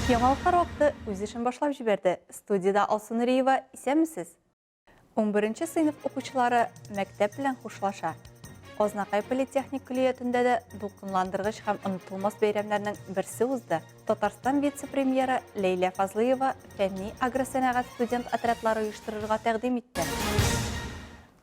Яңалыклар вакыты үз эшен башлап җибәрде. Студиядә Алсу Нуриева, исәнмесез! 11 сыйныф укучылары мәктәп белән хушлаша. Азнакай политехник көллиятендә дә дулкынландыргыч һәм онытылмас бәйрәмнәрнең берсе узды. Татарстан вице-премьеры Ләйлә Фазлыева фәнни агросәнәгать студент отрядлары оештырырга тәкъдим итте.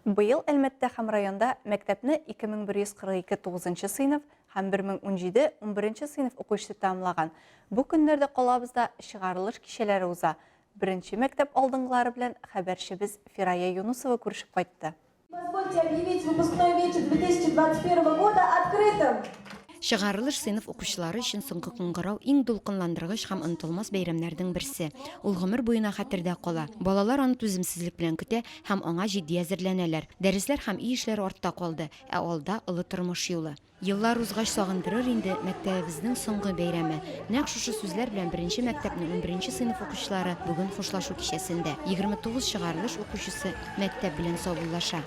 Быел Әлмәттә һәм районда мәктәпне 2142 9 сыйныф һәм 1017 11 сыйныф укучысы тәмамлаган. Бу көннәрдә калабызда чыгарылыш кичәләре уза. Беренче мәктәп алдынгылары белән хәбәрчебез Фирая Юнусова күрешеп кайтты. Позвольте объявить выпускной вечер 2021 года открытым! Чыгарылыш сыйныф укучылары өчен соңгы кыңгырау иң дулкынландыргыч һәм онытылмас бәйрәмнәрнең берсе. Ул гомер буена хәтердә кала. Балалар аны түземсезлек белән көтә һәм аңа җитди әзерләнәләр. Дәресләр һәм өй эшләре артта калды, ә алда, олы тормыш юлы. Еллар узгач сагындырыр инде мәктәбебезнең соңгы бәйрәме. Нәкъ шушы сүзләр белән беренче мәктәпнең унберенче сыйныф укучылары бүген хушлашу кичәсендә. Егерме тугыз чыгарылыш укучысы мәктәп белән саубуллаша.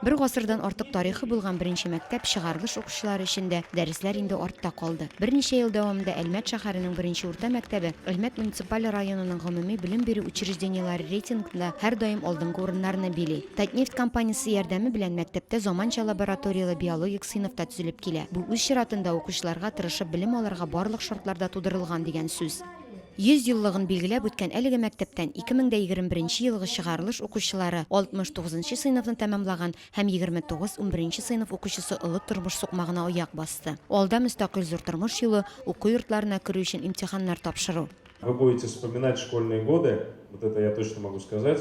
Бер гасырдан артык тарихы булган беренче мәктәп чыгарылыш укучылары өчен дә дәресләр инде артта калды. Берничә ел дәвамында Әлмәт шәһәренең беренче урта мәктәбе Әлмәт муниципаль районының гомуми белем бирү учреждениеләре рейтингында һәрдаим алдынгы урыннарны били. Татнефть компаниясе ярдәме белән мәктәптә заманча лабораторияле биологик сыйныф та төзелеп килә. Бу үз чиратында укучыларга тырышып белем алырга барлык шартлар да тудырылган дигән сүз. 100 еллыгын билгеләп үткән әлеге мәктәптән 2021 елгы чыгарылыш укучылары 69 нчы сыйныфны тәмамлаган һәм 29 унберенче сыйныф укучысы олы тормыш сукмагына аяк басты. Алда мөстәкыйль зур тормыш юлы, уку йортларына керү өчен имтиханнар тапшыру. Вы будете вспоминать школьные годы, вот это я точно могу сказать.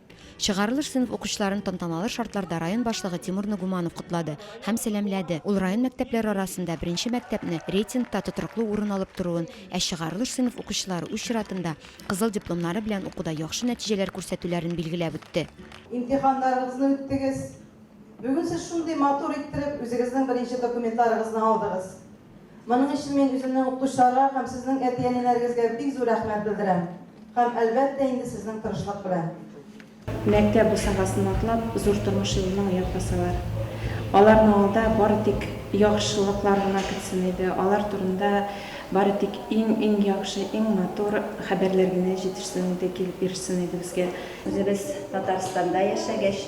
Чыгарылыш сыйныф укучыларын тантаналы шартларда район башлыгы Тимур Нугуманов котлады һәм сәламләде. Ул район мәктәпләре арасында беренче мәктәпне рейтингта тотрыклы урын алып торуын, ә чыгарылыш сыйныф укучылары үз чиратында кызыл дипломнары белән укуда яхшы нәтиҗәләр күрсәтүләрен билгеләп үтте. Имтиханнарыгызны үттегез. Бүген сез шундый матур иттереп үзегезнең беренче документларыгызны алдыгыз. Моның өчен мин үземнең укытучыларга һәм сезнең әти-әниләрегезгә бик зур рәхмәт белдерәм. Һәм, әлбәттә инде, сезнең тырышлык белән. Мәктәп бусагасын атлап, зур тормыш юлына аяк басалар. Аларның алда бары тик яхшылыклар гына көтсен иде, алар турында бары тик иң-иң яхшы, иң матур хәбәрләр генә җитешсен иде, килеп ирешсен иде безгә. Үзебез Татарстанда яшәгәч,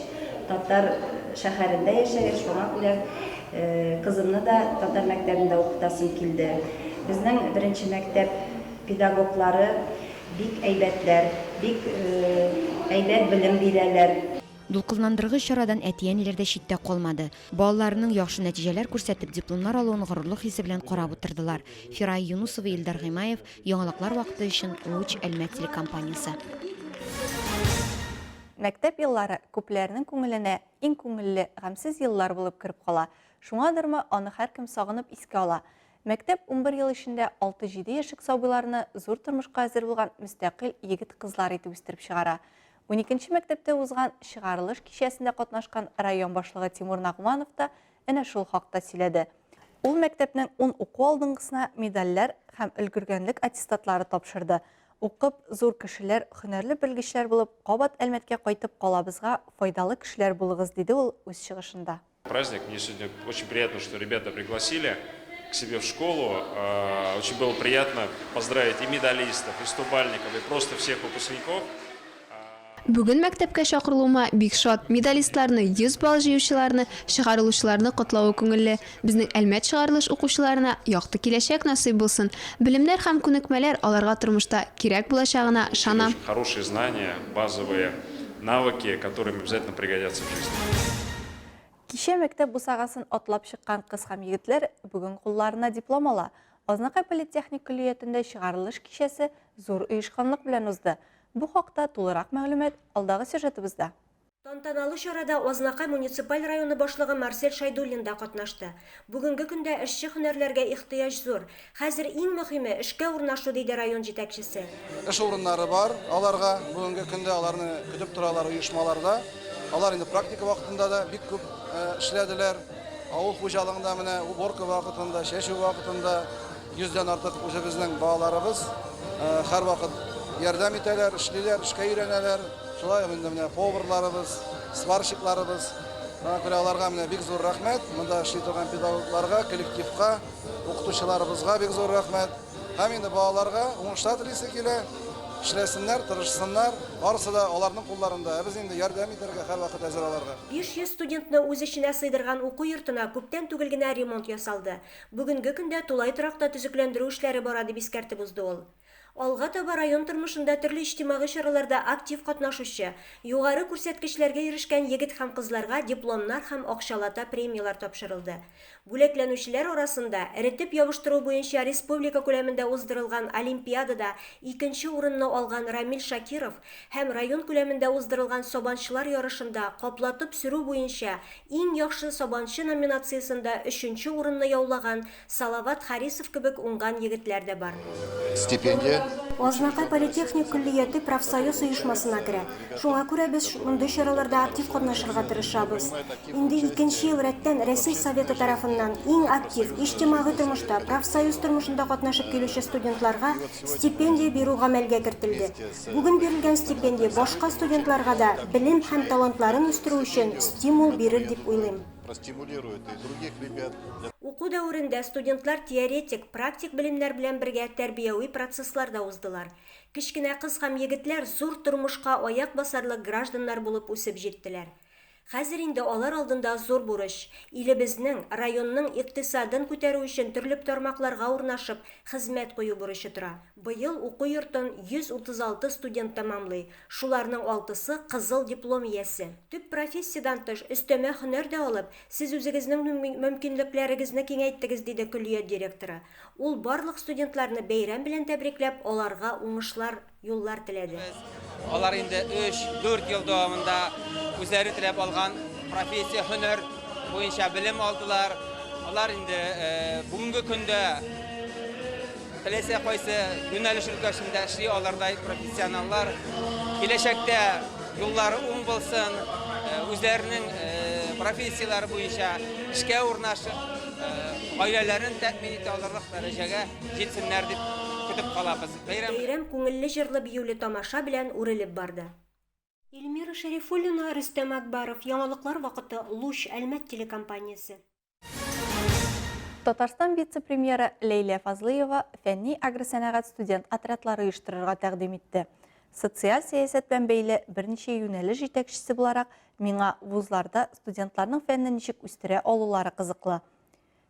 татар шәһәрендә яшәгәч, шуңа күрә Кызымны да татар мәктәбендә укытасым килде. Безнең беренче мәктәп педагоглары бик әйбәтләр, бик әйбәт белем бирәләр. Дулкынландыргыч чарадан әти-әниләр дә читтә калмады. Балаларының яхшы нәтиҗәләр күрсәтеп, дипломнар алуын горурлык хисе белән карап утырдылар. Фирая Юнусова, Илдар Гыймаев, Яңалыклар вакыты өчен, Луч, Әлмәт телекомпаниясе. Мәктәп еллары күпләрнең күңеленә Иң күңелле, гамьсез еллар булып кереп кала. Шуңадырмы, аны һәркем сагынып искә ала. Мәктәп унбер ел эчендә алты-җиде яшьлек сабыйларны зур тормышка әзер булган мөстәкыйль егет-кызлар итеп үстереп чыгара. Уникенче мәктәптә узган чыгарылыш кичәсендә катнашкан район башлыгы Тимур Нагманов та әнә шул хакта сөйләде. Ул мәктәпнең ун уку алдынгысына медальләр һәм өлгергәнлек аттестатлары тапшырды. Укып, зур кешеләр, хөнәрле белгечләр булып, кабат Әлмәткә кайтып калабызга, файдалы кешеләр булыгыз, диде ул үз чыгышында. Праздник, мне сегодня очень приятно, что ребята пригласили к себе в школу. Э, очень было приятно поздравить и медалистов, и стобальников, и просто всех выпускников. Бүген мәктәпкә чакырылуыма бик шат. Медалистларны, 100 балл җыючыларны, чыгарылучыларны котлавы күңелле. Безнең Әлмәт чыгарылыш укучыларына якты киләчәк насыйп булсын. Белемнәр һәм күнекмәләр аларга тормышта кирәк булачагына ышанам. Хорошие знания, базовые навыки, которые им обязательно пригодятся в жизни. Кичә мәктәп бусагасын атлап чыккан кыз һәм егетләр бүген кулларына диплом ала. Азнакай политехник көллиятендә чыгарылыш кичәсе зур оешканлык белән узды. Бу хакта тулырак мәгълүмат алдагы сюжетыбызда. Тантаналы чарада Азнакай муниципаль районы башлыгы Марсель Шайдуллин да катнашты. Бүгенге көндә эшче һөнәрләргә ихтыяҗ зур. Хәзер иң мөһиме, эшкә урнашу, диде район җитәкчесе. Эш урыннары бар аларга, бүгенге көндә аларны көтеп торалар оешмаларда. Алар инде практика вакытында да бик күп эшләделәр. Авыл хуҗалыгында менә уборка вакытында, чәчү вакытында. Йөздән артык үзебезнең балаларыбыз һәрвакыт ярдәм итәләр, эшлиләр, эшкә өйрәнәләр. Шулай ук инде менә поварларыбыз, сварщикларыбыз. Аңа күрә аларга менә бик зур рәхмәт. Монда эшли торган педагогларга, коллективка, укытучыларыбызга бик зур рәхмәт. Һәм инде балаларга уңышлар телисе килә. Эшләсеннәр, тырышсыннар. Барысы да аларның кулларында. Ә без инде ярдәм итәргә һәрвакыт әзер аларга. 500 студентны үз эченә сыйдырган уку йортына күптән түгел генә ремонт ясалды. Бүгенге көндә тулай торакта төзекләндерү эшләре бара, дип искәртеп узды ул. Алга таба район тормышында төрле иҗтимагый чараларда актив катнашучы, югары күрсәткечләргә ирешкән егет һәм кызларга дипломнар һәм акчалата премияләр тапшырылды. Бүләкләнүчеләр арасында эретеп ябыштыру буенча республика күләмендә уздырылган олимпиадада икенче урынны алган Рамил Шакиров һәм район күләмендә уздырылган сабанчылар ярышында каплатып сөрү буенча Иң яхшы сабанчы номинациясендә өченче урынны яулаган Салават Харисов кебек уңган егетләр дә бар. Стипендия. Азнакай политехник көллияте профсоюз оешмасына керә. Шуңа күрә без мондый чараларда актив катнашырга тырышабыз. Инде икенче ел рәттән Рәсәй Советы тарафыннан иң актив, иҗтимагый тормышта, профсоюз тормышында катнашып килүче студентларга стипендия бирү гамәлгә кертелде. Бүген бирелгән стипендия башка студентларга да белем һәм талантларын үстерү өчен стимул бирер дип уйлыйм. Уку дәверендә студентлар теоретик, практик белемнәр белән бергә тәрбияви процесслар да уздылар. Кечкенә кыз һәм егетләр зур тормышка аяк басарлык гражданнар булып үсеп җиттеләр. Хәзер инде алар алдында зур бурыч, илебезнең, районның икътисадын күтәрү өчен төрлеп тармакларга урнашып, хезмәт кую бурычы тора. Быел уку йортын 136 студент тәмамлый, шуларның алтысы, кызыл диплом иясе. Төп профессиядән тыш, өстәмә һөнәр дә алып, сез үзегезнең мөм мөмкинлекләрегезне киңәйттегез, диде көллият директоры. Ул барлык студентларны бәйрәм белән тәбрикләп, аларга уңышлар. юллар теләде. Алар инде 3-4 ел дәвамында үзләре теләп алган профессия, һөнәр буенча белем алдылар. Алар инде э, бүгенге көндә теләсә кайсы юнәлеш өлкәсендә эшли алардай профессионаллар. Киләчәктә юллары уң булсын, э, үзләренең э, профессияләре буенча эшкә урнашып, гаиләләрен тәэмин итә алырлык дәрәҗәгә җитсеннәр дип көтеп калабыз. Бәйрәм күңелле җырлы-биюле тамаша белән үрелеп барды. Ильмира Шәрифуллина, Рөстәм Әкбаров. Яңалыклар вакыты, Луч, Әлмәт телекомпаниясе. Татарстан вице-премьеры Ләйлә Фазлыева фәнни агросәнәгать студент отрядлары оештырырга тәкъдим итте. Социаль сәясәт белән бәйле берничә юнәлеш җитәкчесе буларак, миңа вузларда студентларның фәнне ничек үстерә алулары кызыклы.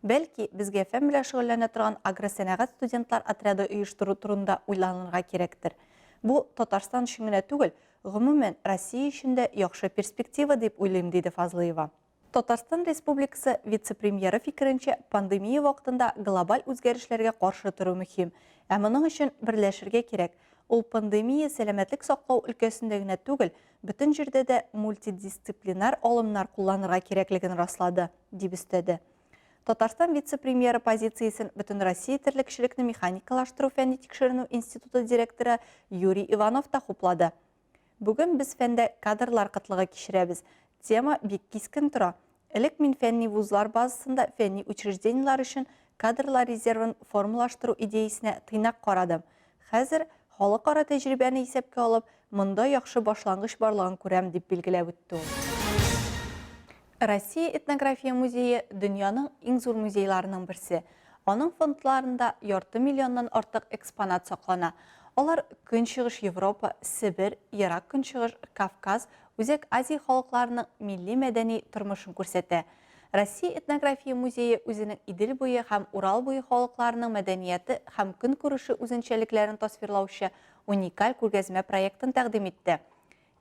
Бәлки, безгә фән белән шөгыльләнә торган агросәнәгать студентлар отряды оештыру турында уйланырга кирәктер. Бу Татарстан өчен генә түгел, гомумән, Россия өчен дә яхшы перспектива дип уйлыйм, диде Фазлыева. Татарстан Республикасы вице-премьеры фикеренчә, пандемия вакытында глобаль үзгәрешләргә каршы тору мөһим. Ә моның өчен берләшергә кирәк. Ул пандемия сәламәтлек саклау өлкәсендә генә түгел, бөтен җирдә дә мультидисциплинар алымнар кулланырга кирәклеген раслады. дип өстәде. Татарстан вице-премьеры позициясен Бөтенроссия терлекчелекне механикалаштыру фәнни-тикшеренү институты директоры Юрий Иванов та хуплады. Бүген без фәндә кадрлар кытлыгы кичерәбез. Тема бик кискен тора. Элек мин фәнни вузлар базасында фәнни учреждениеләр өчен кадрлар резервын формалаштыру идеясенә тыйнак карадым. Хәзер, халыкара тәҗрибәне исәпкә алып, монда яхшы башлангыч барлыгын күрәм, дип билгеләп үтте ул. Россия этнография музее дөньяның иң зур музейларының берсе. Аның фондларында ярты миллионнан артык экспонат саклана. Алар Көнчыгыш Европа, Себер, Ерак Көнчыгыш, Кавказ, Үзәк Азия халыкларының милли-мәдәни тормышын күрсәтә. Россия этнография музее үзенең Идел буе һәм Урал буе халыкларының мәдәнияты һәм көнкүреше үзенчәлекләрен тасвирлаучы уникаль күргәзмә проектын тәкъдим итте.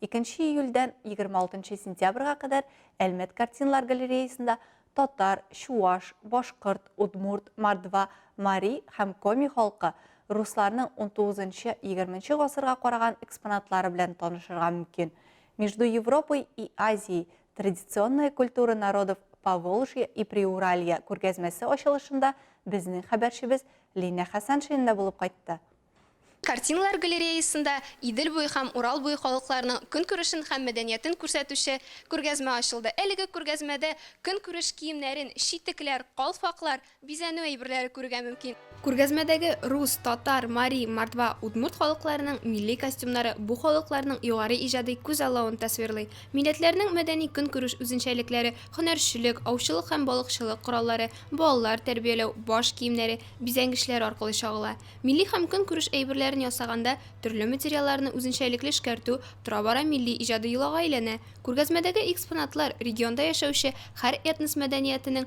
2 июльдән 26 сентябрьгә кадәр Әлмәт картиналар галереясында татар, чуаш, башкорт, удмурт, мордва, мари һәм коми халкы, русларның 19-20 гасырга караган экспонатлары белән танышырга мөмкин. Между Европой и Азией Традиционная культура народов Поволжья и Приуралья күргәзмәсе ачылышында безнең хәбәрчебез Линә Хәсәншина да булып кайтты. Картиналар галереясында Идел буе һәм Урал буе халыкларының көнкүрешен һәм мәдәниятен күрсәтүче күргәзмә ачылды. Әлеге күргәзмәдә көнкүреш киемнәрен, читекләр, калфаклар, Бизәнү әйберләре күрергә мөмкин. Күргәзмәдәге рус, татар, мари, мордва, удмурт халыкларының милли костюмнары бу халыкларның югары иҗади күзаллавын тасвирлый. Милләтләрнең мәдәни-көнкүреш үзенчәлекләре, һөнәрчелек, аучылык һәм балыкчылык кораллары, балалар тәрбияләү, баш киемнәре, бизәнгечләр аркылы чагыла. Милли һәм көнкүреш әйберләрен ясаганда төрле материалларны үзенчәлекле эшкәртү тора-бара милли иҗади йолага әйләнә. Күргәзмәдәге экспонатлар регионда яшәүче һәр этнос мәдәниятенең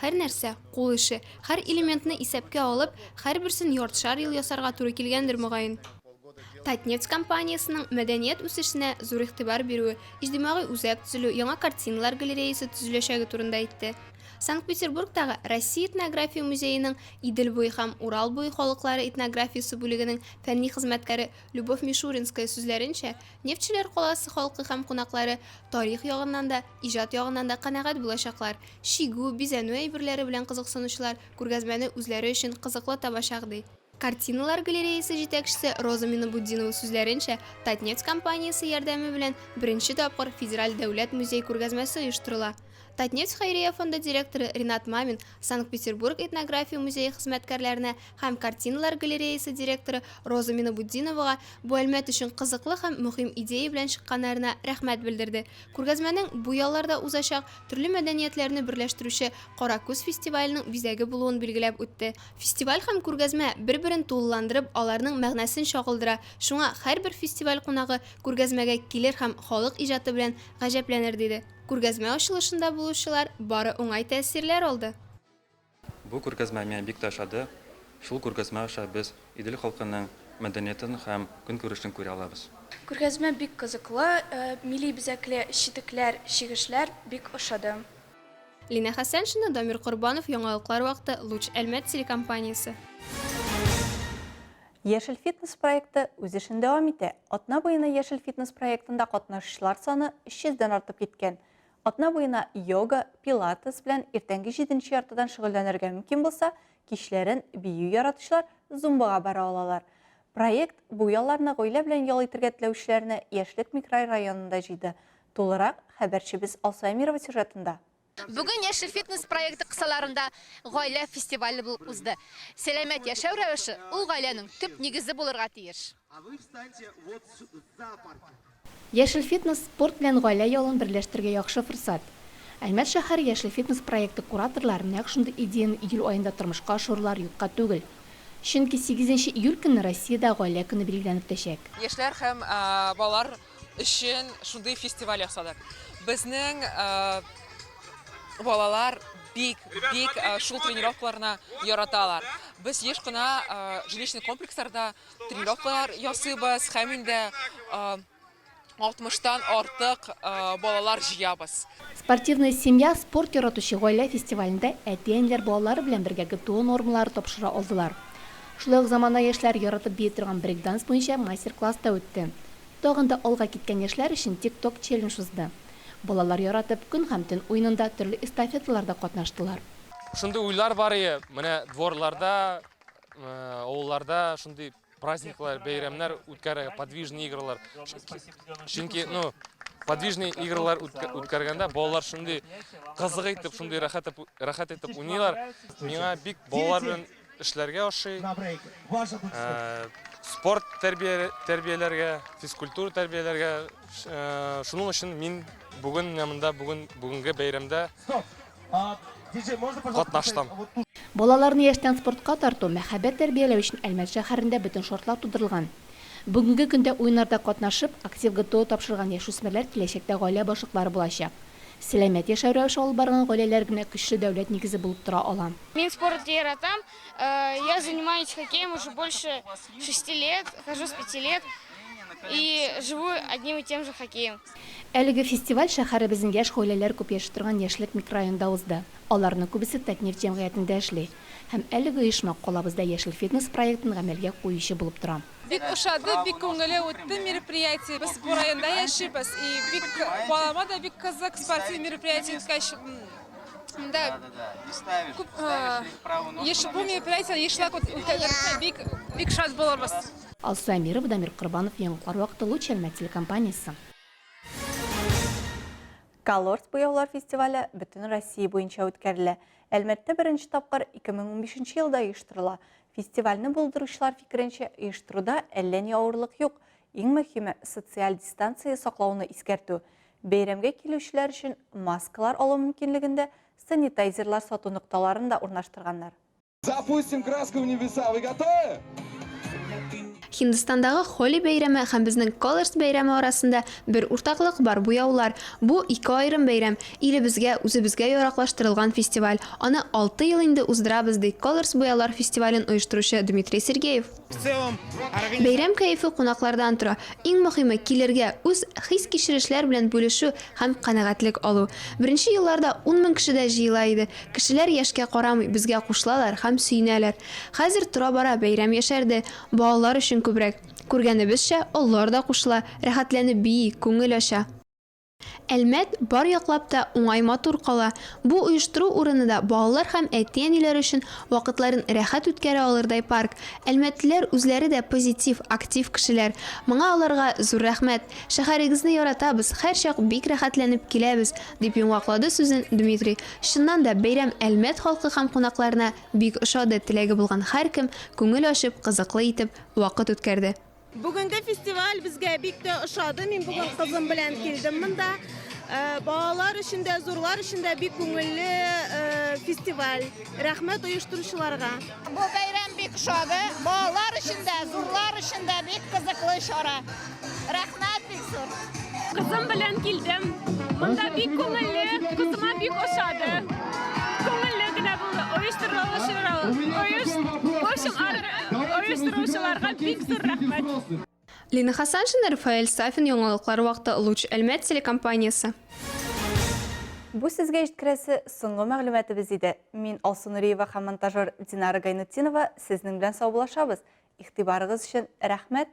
Һәрнәрсә, кул эше. Һәр элементны исәпкә алып, һәрберсен яртышар ел ясарга туры килгәндер, мөгаен. Татнефть компаниясенең мәдәният үсешенә зур игътибар бирүе, иҗтимагый үзәк төзелү, яңа картиналар галереясе төзеләчәге турында әйтте. Санкт-Петербургтагы Россия этнография музееның Идел буе һәм Урал буе халыклары этнографиясе бүлегенең фәнни хезмәткәре Любовь Мишуринская сүзләренчә, Нефтьчеләр каласы халкы һәм кунаклары тарих ягыннан да, иҗат ягыннан да канәгать булачаклар. Чигү, бизәнү әйберләре белән кызыксынучылар күргәзмәне үзләре өчен кызыклы табачак, ди. Картиналар галереясе җитәкчесе Роза Минабутдинова сүзләренчә, Татнефть компаниясе ярдәме белән беренче тапкыр Федераль дәүләт музей-күргәзмәсе оештырыла. Татнефть хәйрия фонды директоры Ринат Мамин Санкт-Петербург этнография музее хезмәткәрләренә һәм картиналар галереясы директоры Роза Минабутдиновага бу әлмәт өчен кызыклы һәм мөһим идея белән чыкканнарына рәхмәт белдерде. Күргәзмәнең бу ялларда узачак төрле мәдәниятләрне берләштерүче Кара күз фестиваленең бизәге булуын билгеләп үтте. Фестиваль һәм күргәзмә бер-берен тулыландырып, аларның мәгънәсен чагылдыра, шуңа һәрбер фестиваль кунагы күргәзмәгә килер һәм халык иҗаты белән гаҗәпләнер, диде. Күргәзмә ачылышында булучылар бары уңай тәэсирләр алды. Бу күргәзмә миңа бик тә ошады. Шул күргәзмә аша без Идел халкының мәдәниятын һәм көнкүрешен күрә алабыз. Күргәзмә бик кызыклы, милли бизәкле читекләр, чигешләр бик ошады. Лина Хәсәншина, Дамир Корбанов, Яңалыклар вакыты, Луч Әлмәт телекомпаниясе. Яшел фитнес проекты үз эшен дәвам итә. Атна буена Яшел фитнес проектында катнашучылар саны 300 дән артып киткән. Атна буена йога, пилатес белән иртәнге җиденче яртыдан шөгыльләнергә мөмкин булса, кичләрен бию яратучылар зумбага бара алалар. Проект бу ялларны гаилә белән ял итергә теләүчеләрне Яшьлек микрорайонында җыйды. Тулырак хәбәрчебез Алсу Әмирова сюжетында. Бүген Яшел фитнес проекты кысаларында гаилә фестивале булып узды. Сәламәт яшәү рәвеше ул гаиләнең төп нигезе булырга тиеш. Яшел фитнес, спорт белән гаилә ялын берләштерергә яхшы форсат. Әлмәт шәһәре Яшел фитнес проекты кураторлары нәкъ шундый идеяне июль аенда тормышка ашырулары юкка түгел. Чөнки сигезенче июль көнне Россиядә Гаилә көне билгеләнеп үтәчәк. Яшьләр һәм балалар өчен шундый фестиваль ясадык. Безнең э, балалар бик, бик э, шул тренировкаларны яраталар. Без еш кына э, жилищный комплексларда тренировкалар ясыйбыз һәм инде э, 60-тан артык э, балалар җыябыз. Спортивная семья спорт яратучы гаилә фестивалендә әти-әниләр балалары белән бергә ГТО нормалары тапшыра алдылар. Шулай ук замана яшьләр яратып бии торган брейкданс буенча мастер-класс та үтте. Тагын да алга киткән яшьләр өчен тик-ток челлендж узды. Балалар яратып Көн һәм төн уенында төрле эстафеталарда катнаштылар. Шундый уйлар бар ие, менә дворларда, авылларда шундый праздниклар, бәйрәмнәр үткәрергә, подвижный игралар. Чөнки, ну, подвижный игралар үткәргәндә балалар шундый кызык итеп, шундый рәхәт итеп уйныйлар. Миңа бик балалар белән Эшләргә ашый. Спорт тәрбияләргә, физкультура тәрбияләргә. Шуның өчен мин бүген монда бүген бүгенге бәйрәмдә катнаштым. Балаларны яшьтән спортка тарту, мәхәббәт тәрбияләү өчен Әлмәт шәһәрендә бөтен шартлар тудырылган. Бүгенге көндә уеннарда катнашып, актив ГТО тапшырган яшүсмерләр киләчәктә гаилә башлыклары булачак. Сәламәт яшәү рәвеше алып барган гаиләләр генә көчле дәүләт нигезе булып тора ала. Мин спорт яратам, я занимаюсь хоккеем уже больше шести лет, хожу с пяти лет и живу одним и тем же хоккеем. Әлеге фестиваль шәһәребезнең яшь гаиләләр күп яши торган Яшьлек микрорайонында узды. Аларның күбесе Татнефть җәмгыятендә эшли. Һәм әлеге оешма калабызда Яшел фитнес проектын гамәлгә куючы булып тора. Бик ошады, бик күңелле үтте мероприятие. Без бу районда яшибез. И бик балама да бик кызык спортивный мероприятие үткәч. Да. Күп еш бу мероприятие ешлак үткәрсә бик бик шат булырбыз. Алсу Әмирова, Дамир Корбанов, Яңгыклар вакыты, Луч Әлмәт телекомпаниясе. Колорс буяулар фестивале бөтен Россия буенча үткәрелә. Әлмәттә беренче тапкыр 2015 елда оештырыла. Фестивальне булдыручылар фикеренчә, оештыруда әллә ни авырлык юк. Иң мөһиме, социаль дистанция саклауны искәртү. Бәйрәмгә килүчеләр өчен маскалар алу мөмкинлегендә санитайзерлар сату нокталарын да урнаштырганнар. Запустим краска в небеса. Вы готовы? Һиндстандагы Холи бәйрәме һәм безнең Колорс бәйрәме арасында бер уртаклык бар, буяулар. Бу, ике аерым бәйрәм, илебезгә, үзебезгә яраклаштырылган фестиваль. Аны алты ел инде уздырабыз, ди Колорс буяулар фестивален оештыручы Дмитрий Сергеев. Бәйрәм кәефе кунаклардан тора. Иң мөһиме, килергә, үз хис-кичерешләр белән бүлешү һәм канәгатьлек алу. Беренче елларда ун мең кеше дә җыела иде. Кешеләр яшькә карамый, безгә кушылалар һәм сөенәләр. Хәзер тора-бара бәйрәм яшәрде, Балалар өчен күбрәк. Күргәнебезчә, олылар да кушыла, рәхәтләнеп бии, күңел ача. Әлмәт бар яклап та уңай матур кала. Бу оештыру урыны да балалар һәм әти-әниләр өчен вакытларын рәхәт үткәрә алырдай парк. Әлмәтлеләр үзләре дә позитив, актив кешеләр. Моңа аларга зур рәхмәт. Шәһәрегезне яратабыз, һәрчак бик рәхәтләнеп киләбез, дип йомгаклады сүзен Дмитрий. Чыннан да, бәйрәм Әлмәт халкы һәм кунакларына Бик ошады, теләге булган һәркем күңел ачып, кызыклы итеп вакыт үткәрде. Бүгенге фестиваль безгә бик тә ошады. Мин бүген кызым белән килдем монда. Балалар өчен дә, зурлар өчен дә бик күңелле фестиваль. Рәхмәт оештыручыларга. Бу бәйрәм бик ошады. Балалар өчен дә, зурлар өчен дә бик кызыклы чара. Рәхмәт бик зур. Кызым белән килдем. Монда бик күңелле, кызыма бик ошады. Күңелле генә булды. Оештырылышырга, оеш, в общем, оештыручыларга бик зур рәхмәт. Лина Хасаншина, Рафаэль Сафин, яңалыклар вакыты, Луч Әлмәт телекомпаниясе. Бу сезгә җиткерәсе соңгы мәгълүматыбыз иде. Мин Алсу Нуриева һәм монтажер Динара Гайнутдинова сезнең белән саубуллашабыз. Игътибарыгыз өчен рәхмәт,